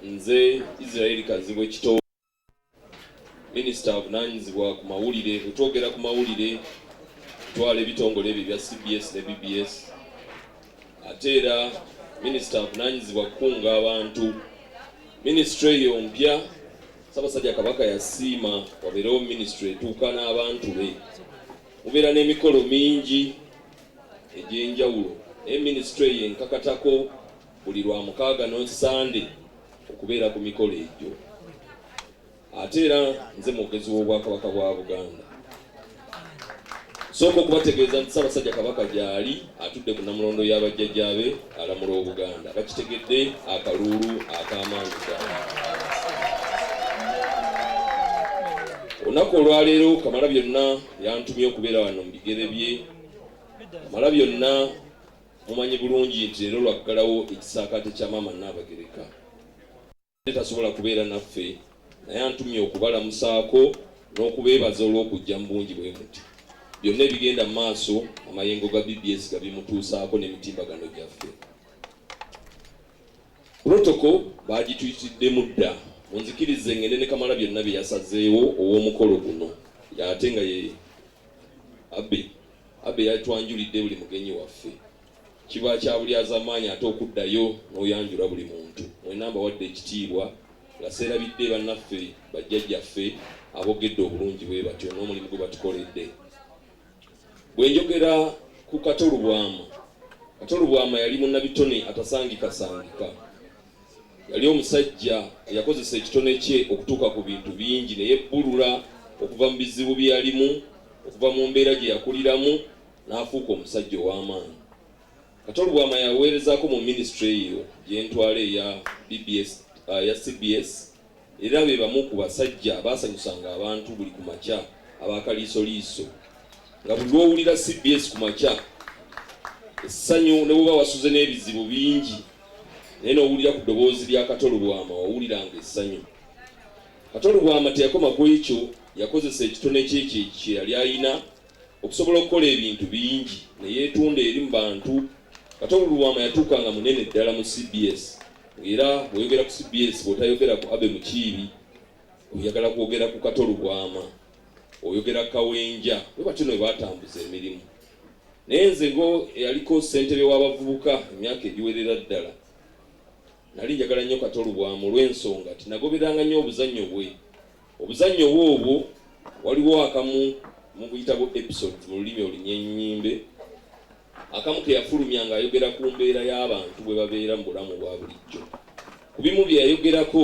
nze Israel Kazibwe Kito minisita avunanyizibwa ku mawulire bwetwogera ku mawulire twala ebitongole ebyo bya cbs ne bbs ate era minisita avunanyizibwa kukunga abantu minisitule eyo mpya sabasajja kabaka yasiima wabeerewo minisitule etuuka n'abantu be mubeera n'emikolo mingi egyenjawulo naye minisitule eyo enkakatako buli lwa mukaaga no nsande okubeera ku mikolo egyo ate era nze mwogezi w'obwakabaka bwa buganda sooka okubategeeza nti ssaabasajja kabaka gyali atudde ku namulondo y'abajjajjaabe alamula obuganda bakitegedde akaluulu ak'amaanyi ddala olunaku olwaleero kamala byonna yantumye okubeera wano mu bigere bye kamala byonna Mumanyi bulungi nti leero lwaggalawo ekisaakaate kya Maama Nnaabagereka. Tasobola kubeera naffe naye antumye okubalamusaako n'okubeebaza olw'okujja mu bungi bwe muti. Byonna ebigenda mu maaso amayengo ga BBS gabimutuusaako n'emitimbagano gyaffe. Protocol baagituyitiddemu dda munzikirize ngende ne kamala byonna bye yasazeewo ow'omukolo guno ate nga ye abbe Abe yatwanjulidde buli mugenyi waffe kiba kya bulyazamaanyi ate okuddayo n'oyanjula buli muntu. Mwena mbawadde ekitiibwa nga sseerabidde bannaffe bajjajjaffe aboogedde obulungi bwe batyo n'omulimu gwe batukoledde. Bwe njogera ku Kato Lubwama, Kato Lubwama yali munnabitone atasangikasangika. Yali omusajja eyakozesa ekitone kye okutuuka ku bintu bingi ne yebbulula okuva mu bizibu bye yalimu, okuva mu mbeera gye yakuliramu n'afuuka omusajja ow'amaanyi. Kato Lubwama yaweerezaako mu minisitule eyo gye ntwala eya BBS, uh, ya CBS era be bamu ku basajja abaasanyusanga abantu buli ku makya aba Kaliisoliiso nga buli lw'owulira cbs ku makya essanyu ne bw'oba wasuze n'ebizibu bingi naye n'owulira ku ddoboozi lya Kato Lubwama wawuliranga essanyu. Kato Lubwama teyakoma ku ekyo yakozesa ekitone kye kye yali alina okusobola okukola ebintu bingi ne yeetunda eri mu bantu. Katongo Lubwama yatuuka nga munene ddala mu cbs ng'era bw'oyogera ku cbs bw'otayogera ku Abe Mukiibi oyagala kwogera ku Kato Lubwama, oyogera Kawenja, bwe batyo ne baatambuza emirimu. Naye nze ngo eyaliko ssentebe w'abavubuka emyaka egiwerera ddala nali njagala nnyo Kato Lubwama olw'ensonga nti nagoberanga nnyo obuzannyo bwe Obuzannyo obwo obwo waliwo akamu mubuyitabu episodes mu lulimi olunyenyimbe akamu ke yafulumya ng'ayogera ku mbeera y'abantu bwe babeera mu bulamu bwa bulijjo. Ku bimu bye yayogerako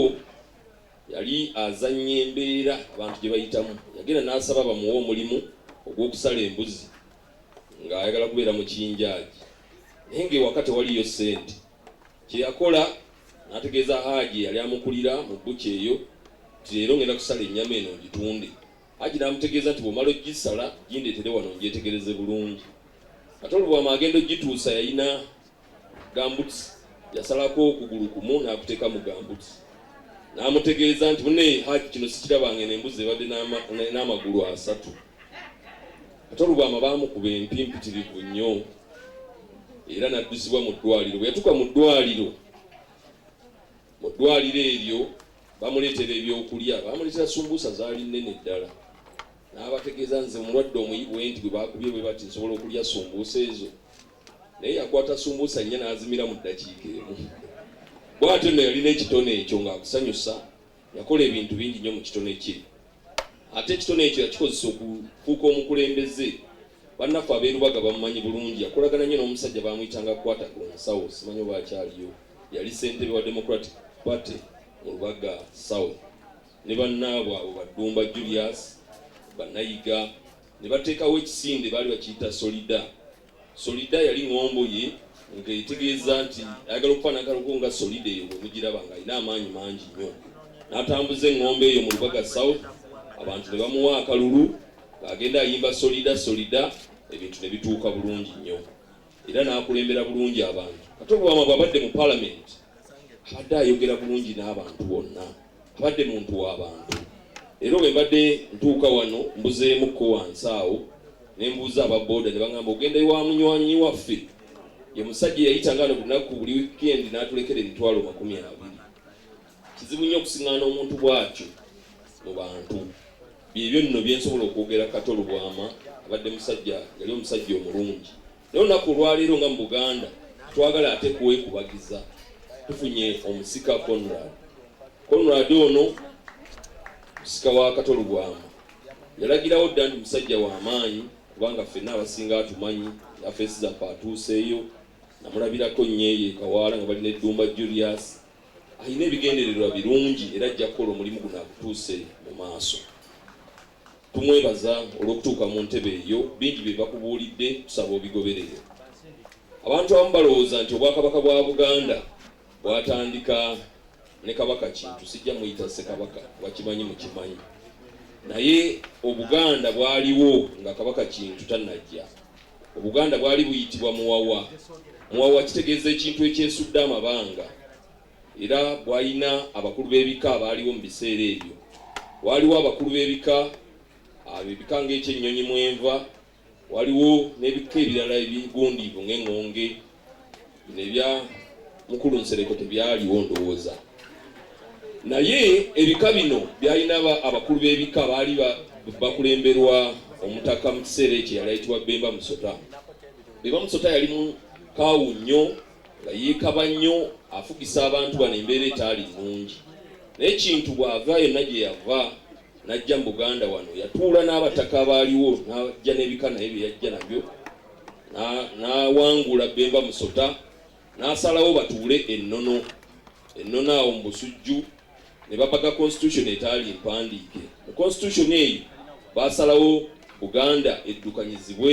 yali azannya embeera abantu gye bayitamu. Yagenda n'asaba bamuwe omulimu ogw'okusala embuzi ng'ayagala kubeera mukinjaagi naye ng'ewaka tewaliyo ssente. kye yakola n'ategeeza Haji eyali amukulira mu bbuca eyo nti leero ngenda kusala ennyama eno ngitunde. Haji n'amutegeeza nti bw'omala ogisala gindeetere wano ngyetegereze bulungi. Ate olwo bw'ama agenda ogituusa yalina gambuti, yasalako okugulu kumu n'akuteeka mu gambuti n'amutegeeza nti mune Haji kino sikirabanga eno embuzi ebadde n'amagulu asatu. Ate Lubwama baamukuba empi mpitirivu nnyo era n'addusibwa mu ddwaliro. Bwe yatuuka mu ddwaliro mu ddwaliro eryo bamuleetera ebyokulya, baamuleetera sumbuusa zaali nnene ddala n'abategeeza nze mulwadde omuyi bwe nti bwe baakubye bwe bati nsobola okulya sumbuusa ezo naye yakwata sumbuusa nnya n'azimira mu ddakiika emu. Bw'atyo nno yalina ekitone ekyo ng'akusanyusa Yakola ebintu bingi nnyo mu kitone kye, ate ekitone ekyo yakikozesa okufuuka omukulembeze. Bannaffe ab'e Lubaga bamumanyi bulungi. Yakolagana nnyo n'omusajja baamuyitanga Kwata ku nsawo, simanyi oba akyaliyo, yali ssentebe wa Democratic Party mu Lubaga South, ne bannaabwe abo Baddumba Julius, Banayiga, ne bateekawo ekisinde baali bakiyita Solida. Solida yali ŋŋombo ye nga etegeeza nti ayagala okufa n'akaloko nga Solida eyo bwe mugiraba ng'alina amaanyi mangi nnyo. N'atambuza eŋŋombo eyo mu Lubaga South abantu ne bamuwa akalulu ng'agenda ayimba Solida Solida ebintu ne bituuka bulungi nnyo era n'akulembera bulungi abantu. Kato Lwama bw'abadde mu Palamenti abadde ayogera bulungi n'abantu bonna. Abadde muntu wa bantu era bwe mbadde ntuuka wano mbuzeemukko wansi awo ne mbuuza aba boda ne bangamba ogenda ewa munywanyi waffe ye musajja eyayita nga no lunaku buli wikendi n'atulekera emitwalo makumi abiri kizibu nnyo okusiŋŋaana omuntu bw'atyo mu bantu byebyo nno bye nsobola okwogera kato lubwama abadde musajja yali omusajja omulungi Naye olunaku olwaleero nga mu Buganda twagala ate kuwekubagiza, tufunye omusika Conrad. Conrad ono musika wa Kato Lubwama, yalagirawo dda nti musajja wa maanyi kubanga ffenna abasinga atumanyi, yafeesi zaffe atuuseeyo, namulabirako nnyo eyo ekawaala nga balina eddumba Julius. Alina ebigendererwa birungi era ajja kukola omulimu guno agutuuse mu maaso. Tumwebaza olw'okutuuka mu ntebe eyo. Bingi bye bakubuulidde tusaba obigoberere. Abantu abamu balowooza nti Obwakabaka bwa Buganda bwatandika ne Kabaka Kintu, sijja muyita Ssekabaka kuba kimanyi mukimanyi, naye Obuganda bwaliwo nga Kabaka Kintu tannajja. Obuganda bwali buyitibwa Muwawa. Muwawa kitegeeza ekintu ekyesudde amabanga. era bwalina abakulu b'ebika abaaliwo mu biseera ebyo. Waaliwo abakulu b'ebika ab'ebika ng'ekyennyonyi mwenva, waliwo n'ebika ebirala ebigundiivu ng'eŋŋonge. Bino ebya mukulu Nsereko tebyaliwo ndowooza, naye ebika bino byalina abakulu b'ebika baali bakulemberwa omutaka mu kiseera ekyo yali ayitibwa Bemba Musota. Bemba Musota yali mukaawu nnyo. nga yeekaba nnyo afugisa abantu bano embeera etaali nnungi naye kintu bw'ava yonna gye yava n'ajja mu buganda wano yatuula n'abataka abaaliwo n'ajja n'ebika naye bye yajja nabyo n'awangula bemba musota n'asalawo batuule ennono ennono awo mu busujju ne bapaga constitution etaali mpandiike mu constitution eyo baasalawo buganda eddukanyizibwe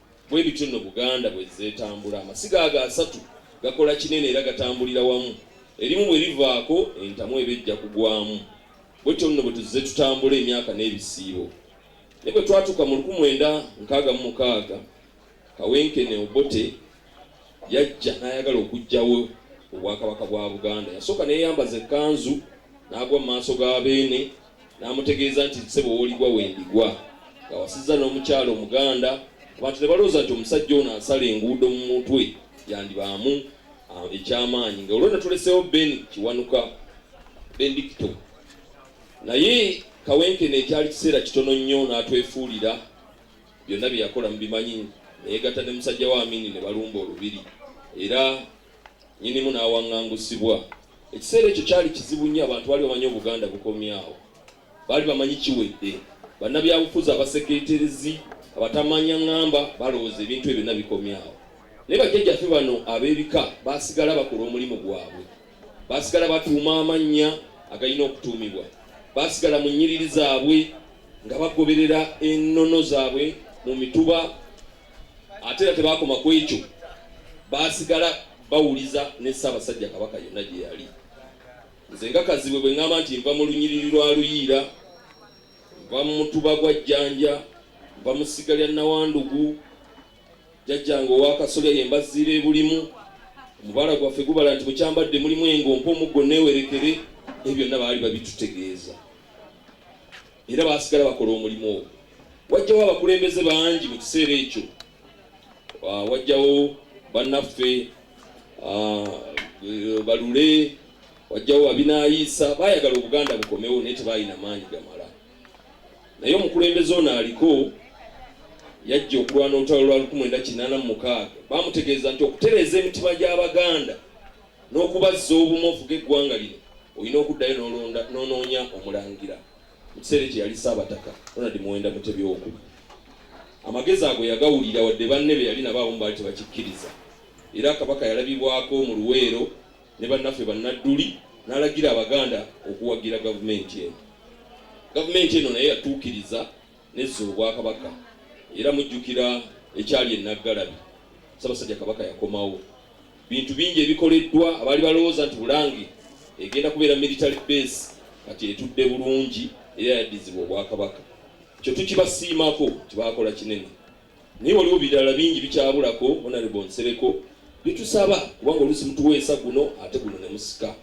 Bwe bityo nno Buganda bwezze etambula. Amasiga ago asatu gakola kinene era gatambulira wamu. Erimu bwe livaako, entamu eba ejja kugwamu. Bwetyo nno bwe tuzze tutambula emyaka n'ebisiibo. Naye bwe twatuuka mu luku mwenda nkaaga mu mukaaga, Kawenkene Obote yajja n'ayagala okuggyawo Obwakabaka bwa Buganda. Yasooka neyeyambaza ekkanzu n'agwa mu maaso ga Beene n'amutegeeza nti ssebo w'oligwa wendigwa nga wasizza n'omukyala omuganda abantu ne balowooza nti omusajja ono asala enguudo mu mutwe yandibaamu ah, ekyamaanyi nga olwona tuleseewo ben kiwanuka bendikito naye kawenkene ekyali kiseera kitono nnyo n'atwefuulira byonna bye yakola mubimanyi nayegatta ne musajja wa amini ne balumba olubiri era Nnyinimu n'awaŋŋangusibwa. Ekiseera ekyo kyali kizibu nnyo, abantu baali bamanyi Obuganda bukomye awo. Baali bamanyi kiwedde. Bannabyabufuzi, abasekeeterezi, abatamanya ŋŋamba balowooza ebintu ebyo byonna bikomye awo. Naye bajjajjaffe bano ab'ebika baasigala bakola omulimu gwabwe. Baasigala batuuma amannya agalina okutuumibwa. Baasigala mu nnyiriri zaabwe nga bagoberera ennono zaabwe mu mituba ate era tebakoma ku ekyo baasigala bawuliza ne ssaabasajja kabaka yonna gye yali nze nga kazibwe bwe ŋŋamba nti nva mu lunyiriri lwa luyiira nva mu mutuba gwa jjanja nva mu ssiga lya nawandugu jajjange owakasolya ye mbaziira ebulimu omubala gwaffe gubala nti mukyambadde mulimu engompa omuggo neewerekere ebyo byonna baali babitutegeeza era baasigala bakola omulimu ogwo. Wajjawo abakulembeze bangi mu kiseera ekyo, ah, wajjawo bannaffe ah, eh, balule, wajjawo babinaayiisa, baayagala Obuganda bukomewo naye tebaalina maanyi gamala. Naye omukulembeze ono aliko yajja okulwana olutalo lwa 1986 baamutegeeza nti okutereeza emitima gy'Abaganda n'okubazza obumu ofuge eggwanga lino olina okuddayo n'olonda n'onoonya omulangira mu kiseera ekyo yali ssaabataka ronald muwenda mutebi owokuba amagezi ago yagawulira wadde banne be yali nabo abamu baali tebakikkiriza era kabaka yalabibwako mu luweero ne bannaffe bannadduli n'alagira abaganda okuwagira gavumenti eno gavumenti eno naye yatuukiriza nezza obwakabaka era mujjukira ekyali enaggalabi ssabasajja kabaka yakomawo Bintu bingi ebikoleddwa abaali balowooza nti Bulange egenda kubeera military base kati etudde bulungi era yaddizibwa Obwakabaka. Ekyo tukibasiimako nti baakola kinene, naye waliwo birala bingi bikyabulako Honourable Nsereko bitusaba kubanga oluusi mutuweesa guno ate guno ne musika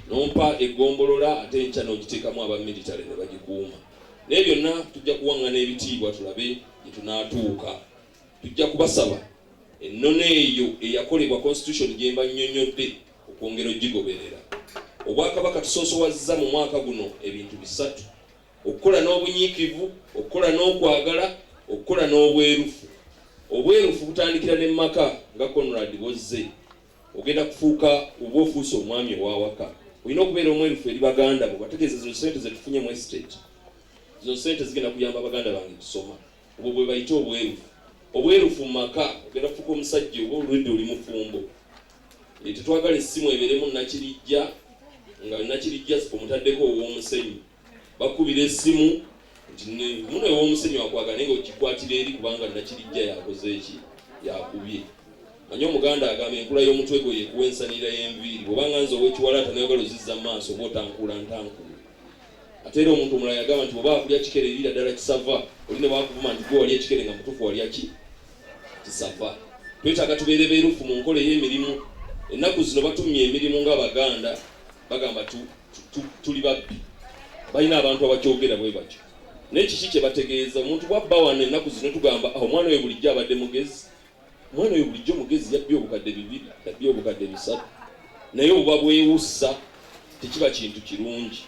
nompa eggombolola ate enkya n'ogiteekamu aba military ne bagikuuma. Naye byonna tujja kuwaŋŋana ebitiibwa tulabe gye tunaatuuka. Tujja kubasaba ennono eyo eyakolebwa Constitution gye mbannyonnyodde okwongera ogigoberera. Obwakabaka tusoosowazza mu mwaka guno ebintu bisatu, okukola n'obunyiikivu, okukola n'okwagala, okukola n'obwerufu. Obwerufu butandikira ne mu maka nga Conrad bw'ozze ogenda kufuuka oba ofuuse omwami ow'awaka olina okubeera omwerufu eri baganda bo bategeeze zino ssente ze tufunye mu estate zino ssente zigenda kuyamba baganda bange kusoma Obwo bwe bayita obwerufu. Obwerufu mu maka ogenda kufuuka omusajja oba olwedda oli mufumbo. Eh, tetwagala essimu ebeeremu nakirijja nga nakirijja omutaddeko ow'omusenyu. Bakubira essimu nti muno ew'omusenyu akwagala naye nga ogikwatira eri kubanga nakirijja yakoze eki yakubye. Manya Omuganda agamba enkula y'omutwe gwo yekuwa ensanira y'enviiri. Bw'oba nga nze ow'ekiwalaata n'oyagala ozizza mu maaso oba otankuula ntankuule. ate era omuntu omulala yagamba nti bwobaa kulya kikere liira ddala kisava oli ne wakuvuma nti gwe wali ekikere nga mutuufu walya ki kisava twetaaga tubeere beerufu mu nkola ey'emirimu ennaku zino batumye emirimu ng'abaganda bagamba tuli babbi balina abantu abakyogera bwe batyo naye kiki kye bategeeza omuntu bwabba wano ennaku zino tugamba ah, omwana oyo bulijjo abadde mugezi Mwana oyo bulijjo mugezi yabbye obukadde bibiri, yabbye obukadde bisatu. Naye obuba bwewussa tekiba kintu kirungi.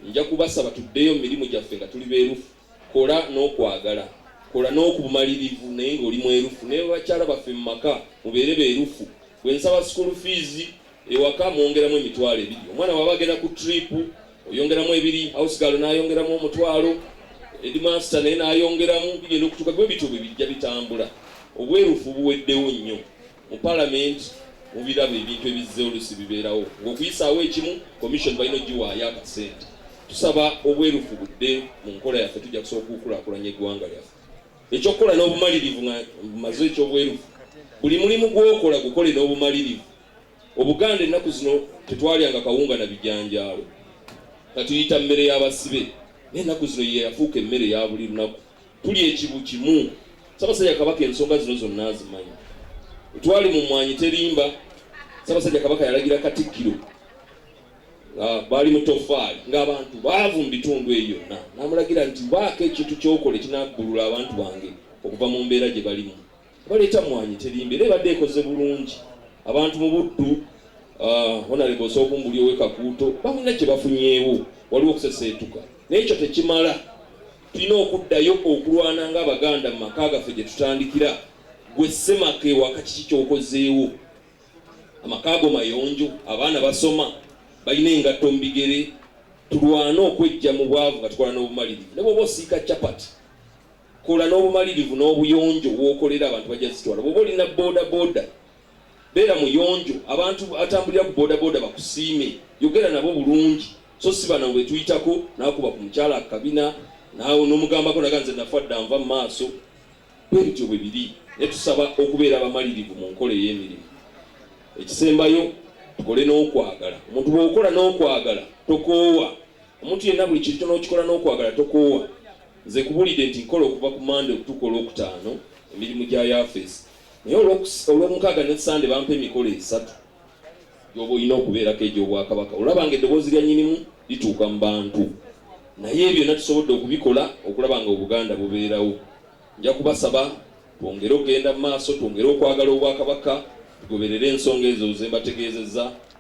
Nja kubasaba tuddeyo mu mirimu gyaffe nga tuli beerufu. Kola n'okwagala. Kola n'okubumalirivu naye ng'oli mwerufu. Ne bakyala baffe mu maka mubeere beerufu. Bwe nsaba school fees ewaka mwongeramu emitwalo ebiri omwana waba agenda ku trip oyongeramu ebiri house girl nayongeramu omutwalo headmaster naye nayongeramu bigenda okutuka gwe bityo bwe bijja bitambula obwerufu buweddewo nnyo mu parliament mubiraba ebintu ebizze olusi bibeerawo ngaokuyisaawo ekimu commission balina ogiwaayo akasente tusaba obwerufu budde mu nkola yaffe tujja kusobola okukulakulanya eggwanga lyaffe ekyokukola n'obumalirivu maze ekyobwerufu buli mulimu gwokola gukole n'obumalirivu Obuganda ennaku zino tetwalyanga kawunga na bijanjaalo katuyita mmere y'abasibe naye ennaku zino ye yafuuka emmere ya buli lunaku tuli ekibu kimu Ssabasajja Kabaka ensonga zino zonna azimanyi twali mu mwanyi terimba Ssabasajja Kabaka yalagira Katikkiro ah, baali mu toffaali ng'abantu baavu mu bitundu eyo yonna n'amulagira nti baako ekintu ky'okola ekinabbulula abantu bange okuva mu mbeera gye balimu Wabula ekyammwanyi terimba era ebadde ekoze bulungi abantu mu Buddu Uh, honorable osooka ombuli owe kakuuto balina kye bafunyeewo waliwo okuseseetuka naye ekyo tekimala tulina okuddayo okulwana nga abaganda mu maka gaffe gye tutandikira gwe semaka ewaka kiki kyokozeewo amaka ago mayonjo abaana basoma balina engatto mu bigere tulwane okwejja mu bwavu nga tukola n'obumalirivu ne bwoba osiika capati Kola n'obumalirivu n'obuyonjo w'okolera abantu bajja zitwala. Bw'oba olina bodaboda beera muyonjo abantu atambulira ku bodaboda bakusiime. Yogera nabo bulungi so si bano betuyitako n'akuba ku mukyala akabina naawe n'omugambako naga nze nafa dda nva mu maaso. Bwe bityo bwe biri naye tusaba okubeera abamalirivu mu nkola ey'emirimu. Ekisembayo tukole n'okwagala. Omuntu bw'okola n'okwagala tokoowa. Omuntu yenna buli kintu kyonna okikola n'okwagala tokoowa. Nze nkubulidde nti nkola okuva ku Monday okutuuka olwokutaano emirimu gya yafeesi naye olwomukaaga ne Sunday bampa emikolo esatu gyoba olina okubeerako egy'Obwakabaka olaba nga eddoboozi lya nnyinimu lituuka mu bantu naye ebyo byonna tusobodde okubikola okulaba nga Obuganda bubeerawo. Nja kubasaba twongere okugenda mu maaso, twongere okwagala Obwakabaka, tugoberere ensonga ezo ze mbategeezezza.